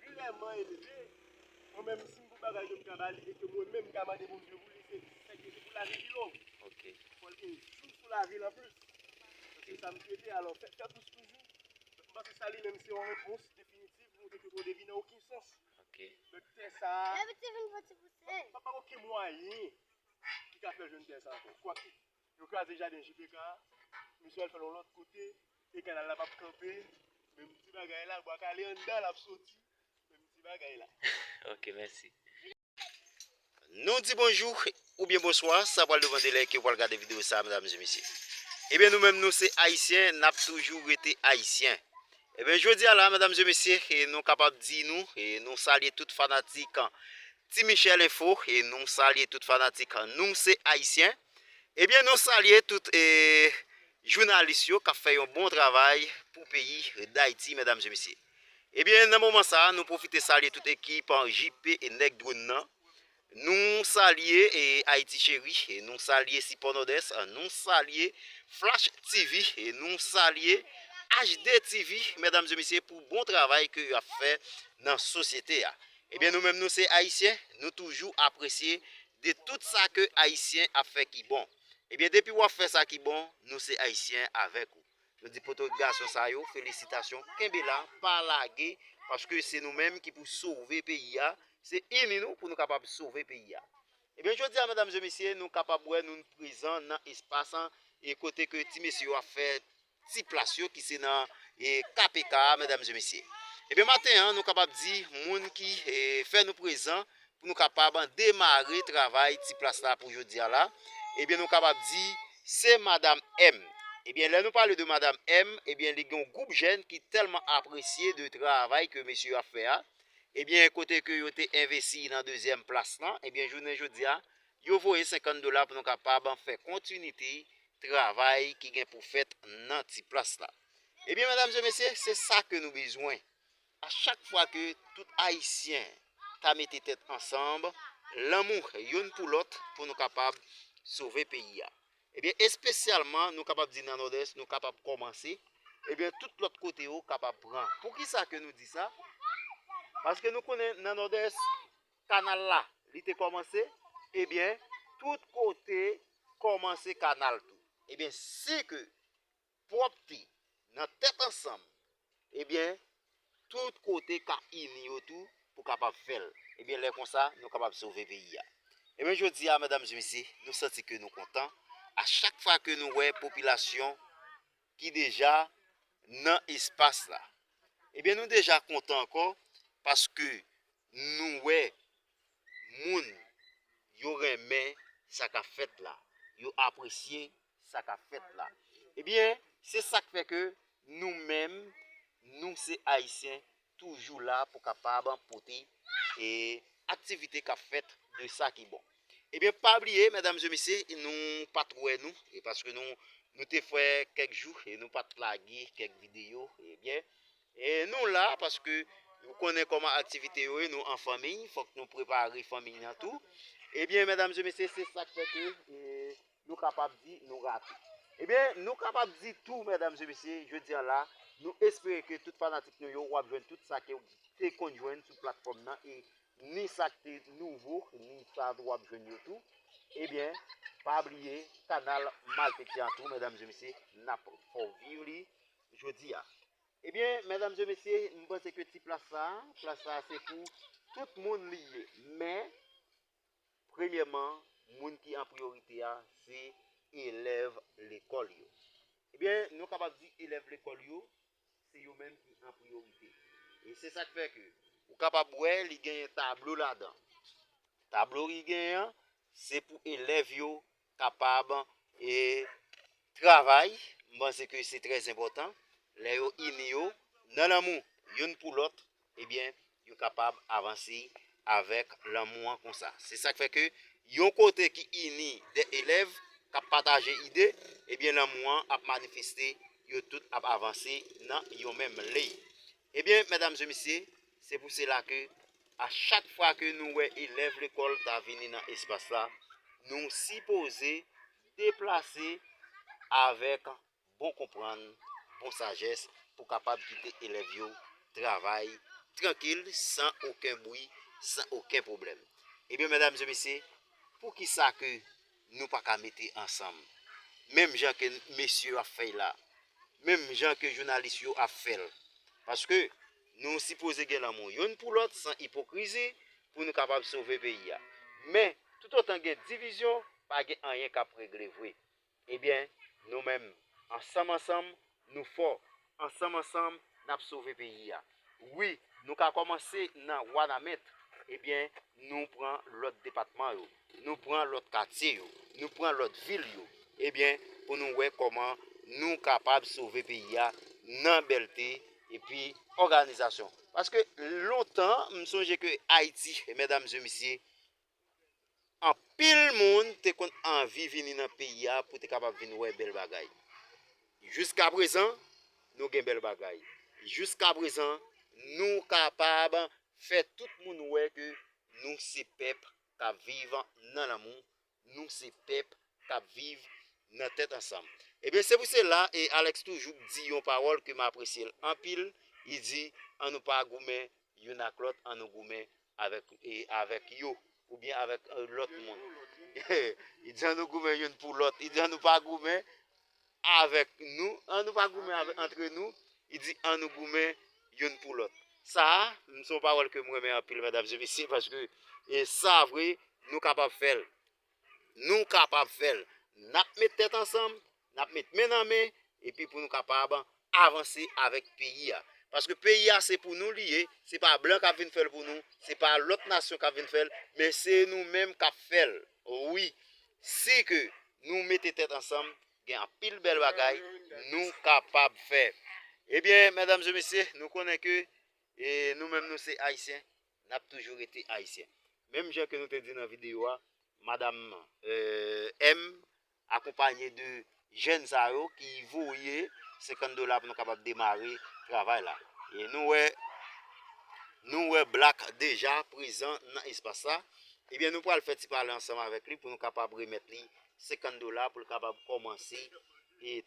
ki vrèman elve, mwen menm si m pou bagay yo m ka ba li e ke mwen menm m ka mande Bondye pou li, se sèke se pou lavi li long, fò l gen jou sou lavi l anplis, se sa m swete, alò fèt fè plis toujou, donk m panse sa li menm se yon repons definitiv nou te dwe pote vin nan okenn sans, donk tè sa a, pa gen okenn mwayen ki ka fè jwenn tè sa a ankò, kwak Yo kraze jaden JPK a, misye al fè l yon lòt kote e kanal la pap kanpe, menm ti bagay la, bwa kale anndan l ap soti, menm ti bagay la. Ok mèsi. Nou di bonjou oubyen bonswa sa pral depan de lè ke ou pral gade video sa medam e mesye. Ebyen nou menm nou se ayisyen nap toujou rete ayisyen. Ebyen jodi a la medam e mesye nou kapab di nou nou salye tout fanatik Ti Michel info e nou salye tout fanatik nou se ayisyen ebyen nou salye tout e jounalis yo kap fè yon bon travay pou peyi dayiti medam e mesye ebyen nan moman sa nou pwofite salye tout ekip JP e nèg dronn nan nou salye e ayiti cheri e nou salye sipò nodès nou salye flash TV e nou salye HD TV medam e mesye pou bon travay ke yo ap fè nan sosyete a Ebyen nou menm nou se ayisyen nou toujou apresye de tout sa ke ayisyen ap fè ki bon ebyen depi wap fè sa ki bon nou se ayisyen avèk ou nou di poto gason sa yo felisitasyon kenbe la pa lage paske se nou menm ki pou sove peyi a se ini nou pou nou kapab sove peyi a ebyen jodi a medam zye mesye nou kapab wè nou prezan nan espas e kote ke ti mesye yo ap fè ti plas yo ki se nan KPK a medam mesye mesye ebyen maten an nou kapab di moun ki fè nou prezan pou nou kapab demare travay ti plas la pou jodi a la ebyen nou kapab di se madam M ebyen lè nou pale de madam M ebyen li gen yon gwoup jèn ki tèlman apresye de travay ke mesye yo ap fè a ebyen kote ke yo te envesi nan dezyèm plas lan ebyen jounen jodi a Yo voye 50 dola pou nou kapab fè kontinite travay ki gen pou fèt nan ti plas la. Ebyen medam e mesye se sa ke nou bezwen. A chak fwa ke tout ayisyen ta mete tèt ansanb, lanmou youn pou lòt pou nou kapab sove peyi a. Ebyen espesyalman nou kapab di nan nòdès nou kapab kòmanse, ebyen tout lòt kote yo kapab pran. Poukisa ke nou di sa? Paske nou konnen nan nòdès Kanal la li te komanse ebyen tout kote komanse kanal tou ebyen si ke pwopte nan tèt ansanm ebyen tout kote ka ini yo tou pou kapab fèl ebyen lè konsa nou kapab sove peyi a ebyen jodi a medam e mesye nou santi ke nou kontan a chak fwa ke nou wè popilasyon ki deja nan espas la. Ebyen nou deja kontan ankò paske nou wè moun yo renmen sa kap fèt la, yo apresye sa kap fèt la. Ebyen se sak fè ke nou menm nou se ayisyen toujou la pou kapab pote e aktivite kap fèt de sa ki bon ebyen pa bliye medam mesye misye nou pat wè nou e paske nou nou te fè kèk jou e nou pat lage kèk video ebyen e nou la paske nou konnen koman aktivite yo e nou an fanmiy fòk nou prepare fanmiy nan tou ebyen medam mesye misye se sak fè ke e Nou kapab di nou rate. Ebyen nou kapab di tou medam e mesye jodi an la nou espere ke tout fanatik nou yo wap jwenn tout sa ke ou te konn jwenn sou platfòm nan e ni sa k te nouvo ni sa tou wap jwenn yo tou ebyen pa bliye kanal malfektè an tou medam e mesye nap fè w viv li jodi a. Ebyen medam e mesye m panse ke ti plas sa, plas sa se pou tout moun li ye men Premyèman, moun ki an priyorite a se elèv lekòl yo. Ebyen, nou kapab di elèv lekòl yo se yo menm ki an priyorite. E se sa k fè ke ou kapab wè li genyen tablo ladan. Tablo ki genyen an, se pou elèv yo kapab travay, m panse ke se trè enpòtan, lè yo ini yo nan lanmou youn pou lòt ebyen yo kapab avanse avèk lanmou an konsa. Se sak fè ke yon kote ki ini 2 elèv kap pataje ide ebyen lanmou an ap manifeste yo tout ap avanse nan yon menm liy. Ebyen medam e misye se pou sela ke a chak fwa ke nou wè elèv lekòl ta vini nan espas la nou sipoze deplase avèk bon konprann, bon sajès pou kapab kite elèv yo travay trankil san oken bwi, san oken pwoblèm. Ebyen medam e misye, poukisa ke. Nou pa ka mete ansanm. Menm jan ke mesye yo ap fèy la. Menm jan ke jounalis yo ap fèl. Paske nou sipoze gen lanmou youn pou lòt san ipokrizi pou nou kapab sove peyi a. Men, toutotan gen divizyon, pa gen anyen k ap regle vre. Ebyen, nou menm, ansanm ansanm, Nou fò. Ansanm ansanm nap sove peyi a. Wi nou ka kòmanse nan wanament ebyen nou pran lòt depatman yo nou pran lòt katye yo nou pran lòt vil yo ebyen pou nou wè kòman nou kapab sove peyi a nan bèlte epi òganizasyon paske lontan m sonje ke ayiti mèdam e mesye Anpil moun te konn anvi vini nan peyi a pou te kapab vin wè bèl bagay. Jiskaprezan, nou gen bèl bagay. Jiskaprezan, nou kapab fè tout moun wè ke nou se pèp k ap viv nan lanmou, nou se pèp k ap viv nan tèt ansanm. Ebyen, se pou sela, e Alex toujou di yon pawòl ke m apresye l anpil, li di, An nou pa goumen youn ak lòt, an nou goumen Avèk avèk yo oubyen avèk lòt moun. Li di an nou goumen youn pou lòt. Li di an nou pa goumen avèk nou. An nou pa goumen avèk antre nou. Li di an nou goumen youn pou lòt. Sa a, m son pawòl ke m renmen anpil medam e mesye paske e sa vre nou kapab fè l. Nou kapab fè l. N ap met tèt ansanm, n ap met men nan men epi pou nou kapab avanse avèk peyi a. Paske peyi a se pou nou li ye, se pa blan k ap vin fè l pou nou, se pa lòt nasyon k ap vin fè l, men se nou menm k ap fè l. Wi, si ke nou mete tèt ansanm, gen anpil bèl bagay nou kapab fè. Ebyen, medam e mesye, nou konnen ke nou menm nou se Ayisyen, Nap toujou rete ayisyen. Menm jan ke nou te di nan video a, madam M. akonpanye de jèn sa yo ki voye 50 dola pou nou kapab demare travay la. E nou wè, nou wè Black deja prezan nan espas la. Ebyen nou pral fè ti pale ansanm avèk li pou nou kapab remèt li 50 dola pou l kapab kòmanse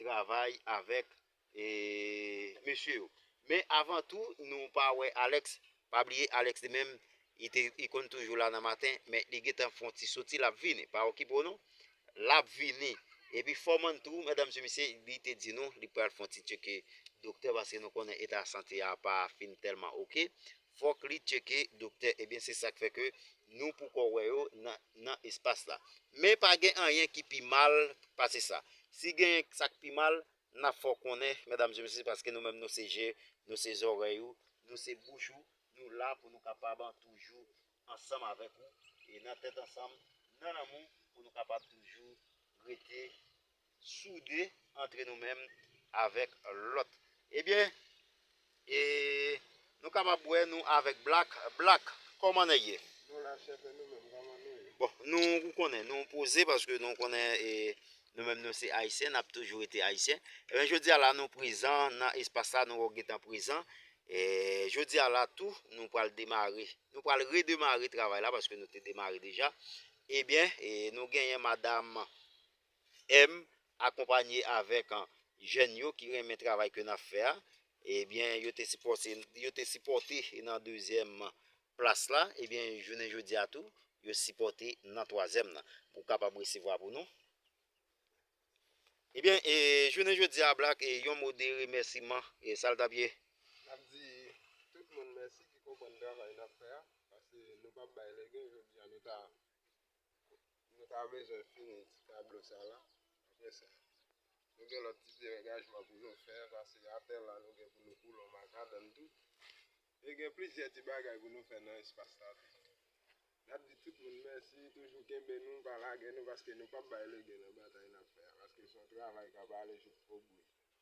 travay avèk E mesye yo. Men avan tou nou pa wè Alex, pa bliye Alex li menm li te li konn toujou la nan maten men li gentan fon ti soti lap vini pa okipe w non lap vini epi foreman tou medam mesye misye li te di nou li pral fon ti tcheke doktè paske nou konnen eta sante a pa fin tèlman ok fòk li tcheke doktè ebyen se sak fè ke nou poko wè yo nan nan espas la men pa gen anyen ki pi mal pase sa si gen sak pi mal N ap fè w konnen, medam e mesye, paske nou menm nou se je, nou se zòrèy ou, nou se bouch ou, nou la pou nou kapab toujou ansanm avèk ou, e nan tèt ansanm, nan lanmou, pou nou kapab toujou rete soude antre nou menm avèk lòt. Ebyen, E nou kapab wè nou avèk black black kòman nèg ye. Nou la chef e nou menm kòman nou ye. Bon nou ou konnen nou poze paske nou konnen e nou menm nou se ayisyen nap toujou rete ayisyen ebyen jodia la nou prezan nan espas sa nou gentan prezan e jodia la tou nou pral demare nou pral redemare travay la paske nou te demare deja ebyen e nou genyen madam M akonpanye avèk jèn yo ki renmen travay ke nap fè a, ebyen yo te sipòte yo te sipòte nan dezyèm plas la, ebyen jounen jodi a tou yo sipòte nan twazyèm nan pou kapab resevwa pou nou. Ebyen e jounen jodi a Black e yon mo de remèsiman e sal tap ye? Nap di tout moun mèsi ki konprann travay nap fè a, paske nou pap bay legen, jodi a nou ta Nou ta bezwen fini ti tablo sa la. Apre sa, nou gen lòt ti derengajman pou nou fè. Pase atè la, nou gen pou nou koule yon makadann tou. E gen plizyè ti bagay pou nou fè nan espas la tou. N ap di tout moun mèsi, toujou kenbe nou, pa lage nou, paske nou p ap bay legen nan batay n ap fè a. Paske se yon travay k ap ale jouk o bou li.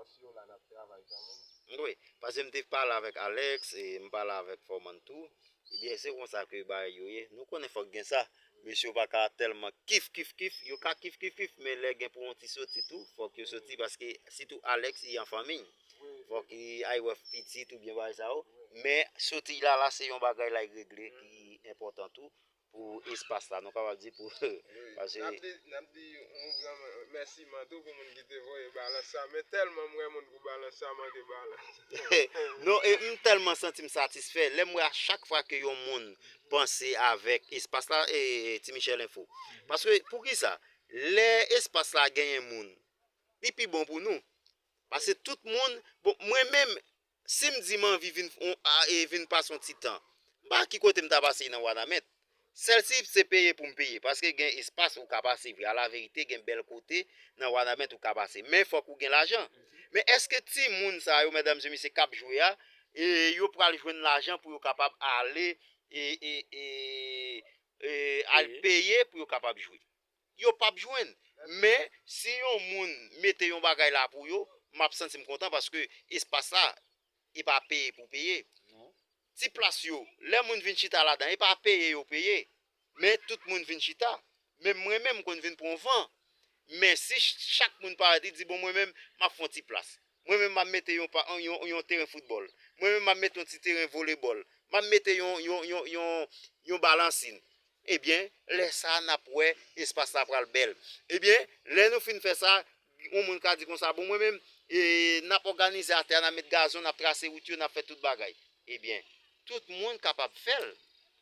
Osceola nap travay kanmenm. M dwe. Pase m te pale avèk Alex e m pale avèk Foreman tou. Ebyen se konsa ke bagay yo ye. Nou konnen fòk gen sa. Mesye yo pa ka tèlman kifkifkif. Yo ka kifkifkif men lè gen pou yon ti soti tou fòk yo soti paske sitou Alex li an fanmi. Fòk li al wè pitit oubyen bagay sa yo. Men soti la la se yon bagay lay regle ki enpòtan tou. Pou espas la nou kapab di pou pase. Nap di yon gran mèsiman tou pou moun ki te voye balans sa men tèlman m wè moun pou balans sa manke balans. Non e m tèlman santi m satisfè lè m wè a chak fwa ke yon moun panse avèk espas la e ti Michel enfo. Paske poukisa lè espas la genyen moun li pi bon pou nou pase tout moun bon mwen menm Si m di m anvi vin e vin pase yon ti tan, m pa wè ki kote m ta pase nan Wanament. Sèlsi se peye pou m peye, paske gen espas ou ka pase vre. Alaverite gen bèl kote nan Wanament ou ka pase, men fòk ou gen lajan. Men èske timoun sa yo, mèdamzyemisye, k ap jwe a, yo pral jwenn lajan pou yo kapab ale e al peye pou yo kapab jwe? yo pap jwenn men si yon moun mete yon bagay la pou yo map santim kontan paske espas la e pa peye pou peye ti plas yo lè moun vin chita ladan e pa peye yo peye men tout moun vin chita menm mwen menm m konn vin pran van men si chak moun parèt li di bon mwen menm map fon ti plas. Mwen menm m ap mete yon pa yon yon yon teren foutbòl. Mwen menm m ap mete yon ti teren volebòl. M ap mete yon yon yon yon yon balansin. Ebyen, lè sa a n ap wè espas la pral bèl. Ebyen, lè nou fin fè sa, yon moun ka di konsa, bon mwen menm, e n ap òganize atè a, n ap met gazon, n ap trase wout yo, n ap fè tout bagay. Ebyen, tout moun kapab fè l.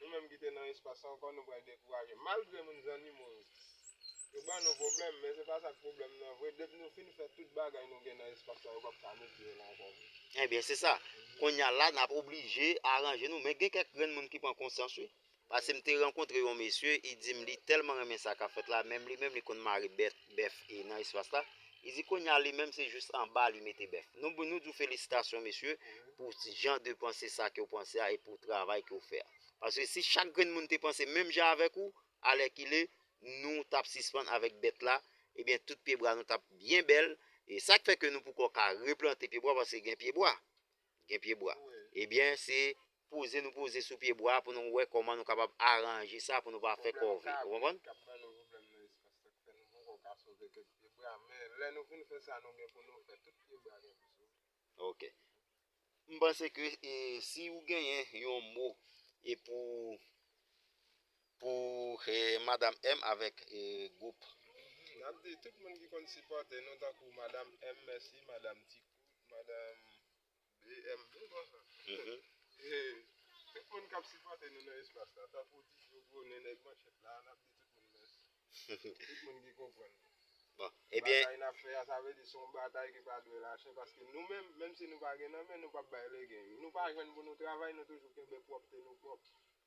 Nou menm ki te nan espas sa ankò nou pral dekouraje. Malgre moun zannimo yo, yo ban nou pwoblèm, men se pa sa k pwoblèm nan vre. Depi nou fin fè tout bagay nou gen nan espas sa, yo pap ka mete yo la ankò vre. Enben, se sa. Kounye a la, n ap oblije aranje nou. Men gen kèk grenn moun ki pran konsyans wi. Pase m te rankontre yon mesye, li di m li tèlman renmen sa k ap fèt la, menm li menm li konn mare bèt, bèf nan espas la. Li di kounya li menm se jus anba li mete bèf. Nou nou di w felisitasyon mesye pou jan de panse sa ke w panse a e pou travay ke w fè a. Paske si chak grenn moun te panse menm jan avèk ou, alèkile nou tap sispann avèk bèt la, ebyen tout pyebwa nou tap byen bèl, e sak fè ke nou poko ka replante pyebwa paske gen pyebwa. Gen pye bwa. Ebyen se poze nou poze sou pye bwa pou nou wè kòman nou kapab aranje sa pou nou pa fè kòve. Ou konprann? Kap ban nou pwoblèm nan espas la k fè nou poko ka sove kèk pye bwa. Men lè nou fin fè sa nou gen pou nou fè, tout pye bwa gen pou sove. Ok. M panse ke si ou genyen yon mo e pou Pou madam M avèk group. Nap di tout moun ki konn sipòte nou tankou madam M mèsi madam ti kout madam BM tout moun kap sipòte nou nan espas la tankou ti flo gro nen nèg manchèt la nap di tout moun mèsi tout moun ki konprann batay nap fè a sa vle di son batay ki pa dwe lache paske nou menm menm si nou pa gen nan men nou pap bay legen nou pa jwenn pou nou travay nou toujou kenbe pwòpte nou pwòp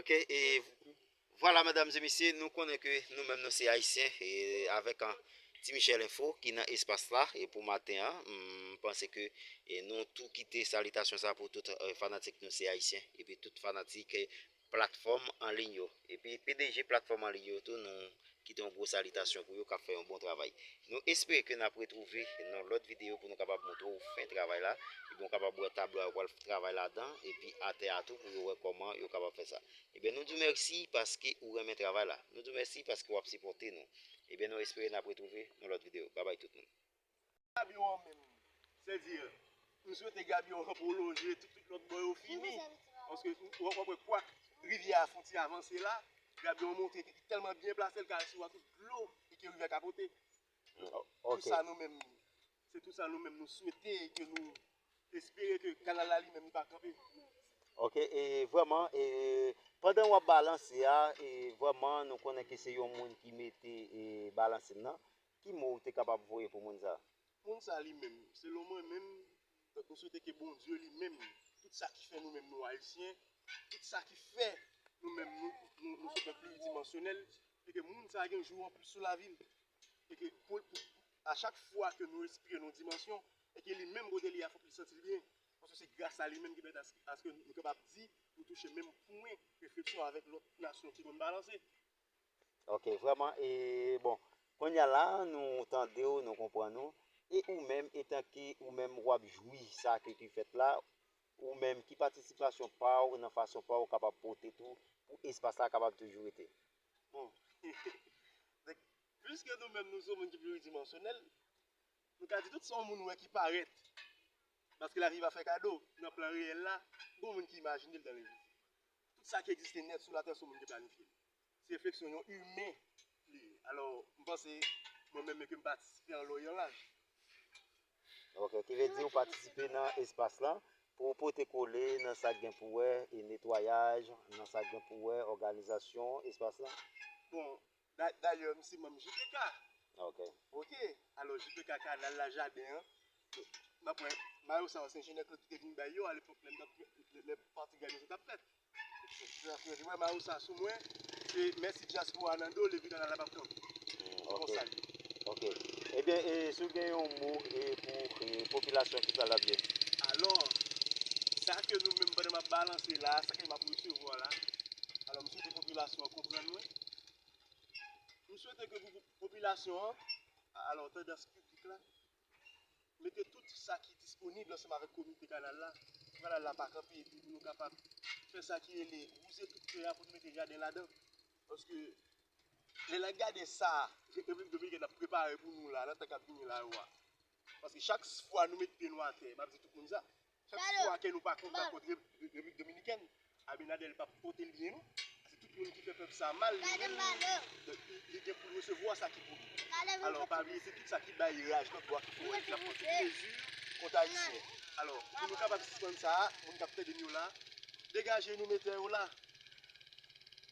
Ok, e vwala medam e mesye, nou konnen ke nou menm nou se ayisyen e avèk an Ti Michel Enfo ki nan espas la e pou maten an, m panse ke e nou tou kite salitasyon sa pou tout fanatik nou se ayisyen epi tout fanatik platfòm anliy yo epi pdg platfòm anliy yo tou nou Kite yon gwo salitasyon pou yo kap fè yon bon travay. Nou espere ke nap retwouve nan lòt videyo pou nou kapab montre ou fen travay la epi ou kapab wè tablo a yo pral travay ladan epi atè a tou pou yo wè kòman yo kapab fè sa. Ebyen nou diw mèsi paske ou renmen travay la. Nou diw mèsi paske wap sipòte nou. Ebyen nou espere nap retwouve nan lòt videyo. Babay tout moun. Gabion an menm se di m swete gabion an pwolonje tout tout lòt bò yo fini paske wap wè kwa rivyè a fon ti avanse la gabion an montre li tèlman byen plase l ka al sou a tout dlo e ke rivyè ka pote tout sa nou menm se tout sa nou menm nou swete e ke nou espere ke kanal la li menm li pa kanpe ok e vwèman e pandan wap balanse a e vwèman nou konnen ke se yon moun ki mete e balanse nan Ki mo ou te kapab voye pou moun sa? Moun sa li menm, selon mwen menm, m swete ke Bondye li menm, tout sa ki fè nou menm nou Ayisyen, tout sa ki fè nou menm nou nou se pèp pliridimansyonèl, e ke moun sa gen jou anplis sou lavi l. E ke pou a chak fwa ke nou respire nan yon dimansyon, e ke li menm kote li a fòk li santi l byen, paske se gras a li menm ki pèmèt aske nou kapab di nou touche menm pwen refleksyon avèk lòt nasyon ki konn balanse. Ok vreman e bon konnya la nou tandew nou konprann ou e ou menm etanke ou menm wap jwi sa ke ki fèt la ou menm ki patisipasyon paw nan fason paw kapab pote tou pou espas la kapab toujou rete. Bon donk pwiske nou menm nou se yon moun ki pliridimansyonèl nou ka di tout sa yon moun wè ki parèt paske lavi pa fè kado nan plan reyèl la gon moun ki imajinel dan levit Tout sa ki egziste nèt sou latè se moun ki planifye li. Se refleksyon yon imen li ye. Alò, m panse mwen menm e ke m patisipe an lon yon laj. Ok, ki vle di ou patisipe nan espas lan pou ou pote kole nan sa k gen pou wè e netwayaj, nan sa k gen pou wè òganizasyon espas lan? Bon, Dayè m se manm JPK. Ok. Ok. Alò JPK kanal la, jaden an. M ap wè mayo sa yo se enjenyè Claude ki te vin bay yo alepòk lè m t ap fè, lè pati gad yo te ap fèt. Yo te wè mayo sa sou mwen, se mèsi dyaspora a nan do l epi kanal la pa p kanpe. Se konsa l ye. Ok. Ebyen e si w gen yon mo e pou e popilasyon ki sa l ap di? Alò, sa ke nou menm pandan m ap balanse la a, sa ke m ap resevwa la, alò m swete popilasyon an konprann mwen. M swete ke popilasyon an, a la otè de piblik la, mete tout sa ki disponib ansanm avèk komite kanal la, pou kanal la pa kanpe, epi pou nou kapab fè sa ki rele wouze tout tè a pou nou mete jaden ladan. Paske, lè n ap gade sa Repiblik Dominikèn ap prepare pou nou la, nan tan k ap vini la yo a, paske chak fwa nou met pye nou atè, m ap di tout moun sa, Chak fwa kè nou pa kontan kont Repiblik Dominikèn, Abinader pa p pote l byen non. Se tout moun ki fè pèp sa a mal, li menm li gen pou l resevwa sa ki pou li. Alò, pa bliye se tout sa ki bay raj nan twa kou an ki ap pran tout mezi kont Ayisyen. Alò, pou nou kapab sispann sa a, moun k ap tède n yo la, degaje nou mete yo la.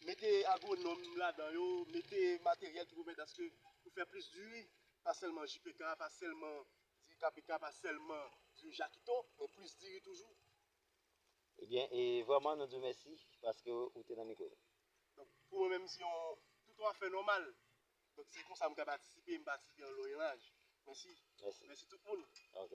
Mete agwonòm ladan yo, mete materyèl ki pou pèmèt aske pou fè plis diri, pa sèlman JPK, pa sèlman Diri KPK pa sèlman diri Jakito, men plis diri toujou. Ebyen e vrèman nou di w mèsi paske ou te nan mikwo nou. Donk pou mwen menm se yon tout yon afè nòmal. Donk se konsa m ka patisipe, m patisipe an loyen laj. Mèsi. Mèsi. Mèsi tout moun. Ok.